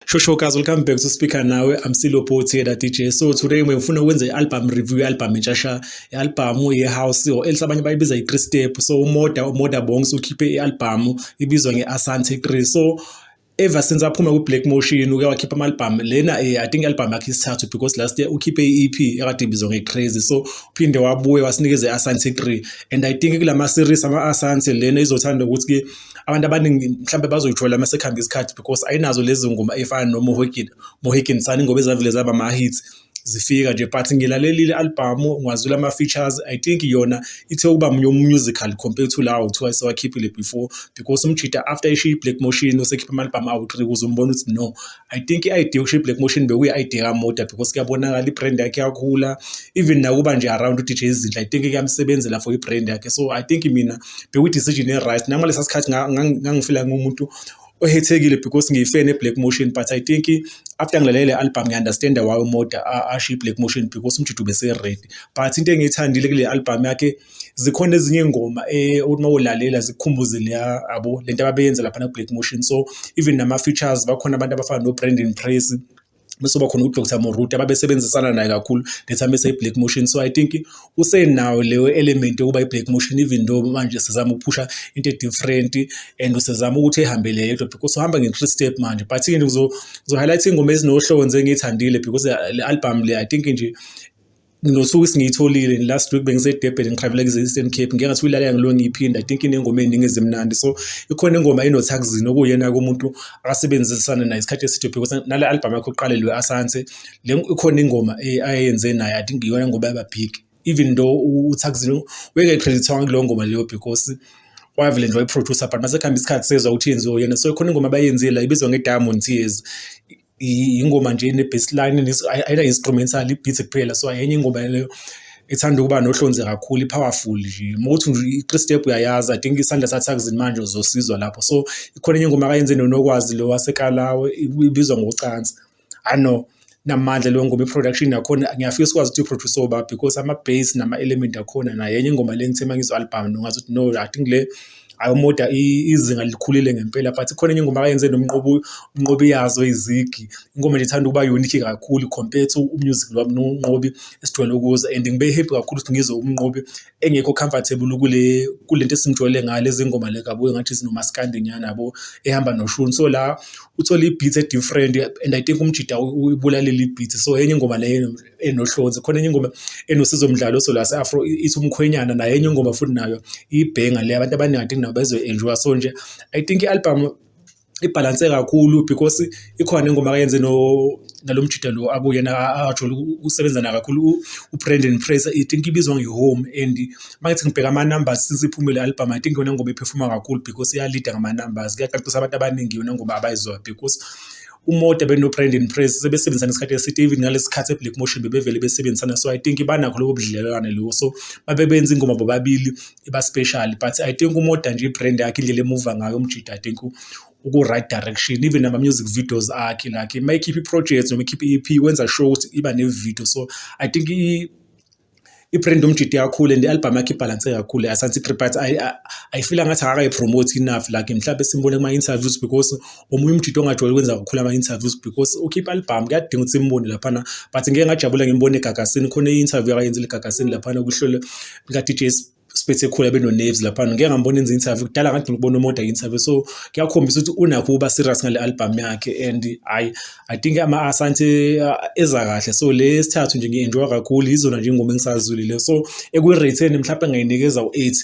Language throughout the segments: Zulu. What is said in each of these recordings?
Shosho guys, welcome back to Speaker Nawe. I'm Silo Poti here at DJ. So today ngifuna ukwenza i-album review i-album entshasha, i-album ye-house or else abanye bayibiza i-3 step. So umoda umoda bongs ukhiphe i-album ibizwa nge-Asante 3. So ever since aphuma ku-black motion uke wakhipha ama-albhamu lena um i think i-albhamu yakhe isithathu because last year ukhiphe i-e p ekade ibizwa nge-crazy so uphinde wabuye wasinikeza i-asante three and i think kula ma-series ama-asante lena izothanda ukuthi-ke abantu abaningi mhlawumbe bazoyithola uma sekuhambe isikhathi because ayinazo lezi ngoma ey'fana nomohikini mohikini sani ngoba ezavele zaba ama-hits zifika nje but ngilalelile albhamu ngiwazwile ama-features i think yona ithe ukuba musical compared to lawo kuthiwa sewakhiphile before because umjida after ishiye i-black motion usekhipha ama-albhamu awu-three kuze umbona ukuthi no i think i-idea yokushiya i-black motion bekuyi-idea kamoda because kuyabonakala i-brand yakhe yakhula even nakuba nje around udj izinhle i think kuyamsebenzela for i-brand yakhe so i think mina bekuyi-decision e-right nangalesa sikhathi ngangifila ngumuntu ohethekile because ngiyifan e-black motion but i think after ngilalele le album ngiunderstanda why umoda asho i-black motion because umjudu bese-red but into engiyithandile kule album yakhe zikhona ezinye iy'ngoma eh, ukuthi uma ulalela zikukhumbuze leya abo le nto ababeyenza laphana ku-black motion so even nama-features bakhona abantu abafana no-brandon praise bese bakhona uDr Moruti ababesebenzisana naye kakhulu letha mese i-black motion so i think usenayo leyo element yokuba i-black motion even though manje sizama ukuphusha into e-different and usezama ukuthi ehambele yedwa because uhamba nge-three step manje but ke ngizohighlight ingoma ezinohlonze engiyithandile because le album le i think nje Nothuka isingiyitholile last week bengisedebheni ngiqhaveleka i-Eastern Cape ngike ngathi uyilalela ngilo ngiyiphinda i think inengoma eziningi ezimnandi so ikhona ingoma enothakuzini okuyena kumuntu akasebenzisana naye isikhathi eside because nale album yakhe uqale lo Asante le ikhona ingoma eh, ayenze naye i think iyona ngoba yaba big even though uthakuzini weke credit wonke lo ngoma leyo because wavele nje wayiproducer but masekuhamba isikhathi sezwa ukuthi yenziwe yena so ikhona ingoma abayenzile ibizwa nge-diamond tears ingoma nje ine-baseline ayina-instrumental i-beat kuphela so enye ingoma leyo ethanda ukuba nohlonze kakhulu i-powerful nje uma ukuthi nje i-three step uyayazi i think isandla sathakuzini manje uzosizwa lapho so ikhona enye ingoma akayenze nonokwazi lo wasekalawe ibizwa ngocansi i know namandla leyo ngoma i-production nakhona ngiyafisa ukwazi ukuthi i-produce oba because ama-base nama-element akhona naye enye ingoma le ngithe uma ngizwa album nongazi ukuthi no i think le hhayi uModa izinga likhulile ngempela but khona enye ingoma ayenze nomnqobi umnqobi yazo izigi ingoma nje ithanda ukuba unique kakhulu compared to umusic lwami nomnqobi esijwayele ukuza and ngibe happy kakhulu ukuthi ngizwe umnqobi engekho comfortable kule kule nto esimjwayele ngayo lezi ngoma le kabuye ngathi zinomaskandi nyana yabo ehamba noshuni so la uthole i-beat e-different and i think umjida uyibulalele i-beat so enye ingoma leyo enohlonze khona enye ingoma enosizo mdlalo so la se-afro ithi umkhwenyana nayo enye ingoma futhi nayo ibhenga le abantu abaningi i think nabo bezoyi-enjoya so nje i think i-album ibhalanse kakhulu because ikhona ingoma akayenze no nalo mjida lo akuyena ajole usebenza na kakhulu uBrandon Fraser i think ibizwa ngehome and mangithi ngibheka ama numbers since iphume le album i think yona ngoba iphefuma kakhulu because iya leader ngama numbers kuyaqaqisa abantu abaningi yona ngoba abayizwa because uModa benoBrandon Praise sebesebenzisana isikhathi eside even ngalesi sikhathi eBlack Motion bebevele besebenzisana so I think banakho lobo budlelwane lobo so babebenza ingoma bobabili iba special but I think uModa nje ibrand yakhe indlela emuva ngayo umjida I think uku-right direction even nama-music videos akhe like uma ekhipha i-project noma ekhipha i-EP wenza sure ukuthi iba ne-video so I think i-brand umjidi kakhulu and i-album yakhe ibhalanse kakhulu asanti but ayifila ngathi akakayi-promote enough like mhlawumbe simbone kuma-interviews because omunye umjidi ongajwayele ukwenza kakhulu ama-interviews because ukhipha album kuyadinga ukuthi simbone laphana but ngeke ngajabula ngimbone egagasini khona i-interview akayenzile egagasini laphana kuhlelo lika-dj siphethe khulu abeno-naves laphana ngike ngambona enza interview kudala ngathi ngikubona umoda interview so kuyakhombisa ukuthi unakho ukuba serious ngale album yakhe and hayi i think ama-asante uh, eza kahle so le sithathu nje ngi-enjoya kakhulu yizona nje ingoma engisazulile so ekuyireyitheni mhlawumpe ngayinikeza u-eight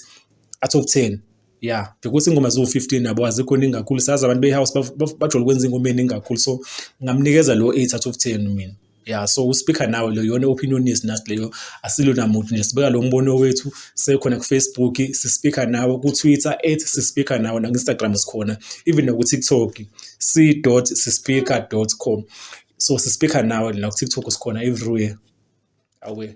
athi oku-ten ya because ingoma ziwu-15 nabo azikho ningi kakhulu sazi abantu behouse bajole ukwenza ingoma eningi kakhulu so ngamnikeza lo 8 out of 10 mina ya so uspeaker nawe lo yona opinion is nasi leyo asilona muntu nje sibeka lo mbono wethu sekhona ku Facebook sispeaker nawe ku Twitter at sispeaker nawe na Instagram sikhona even ku TikTok c.sispeaker.com so sispeaker nawe la ku TikTok sikhona everywhere awe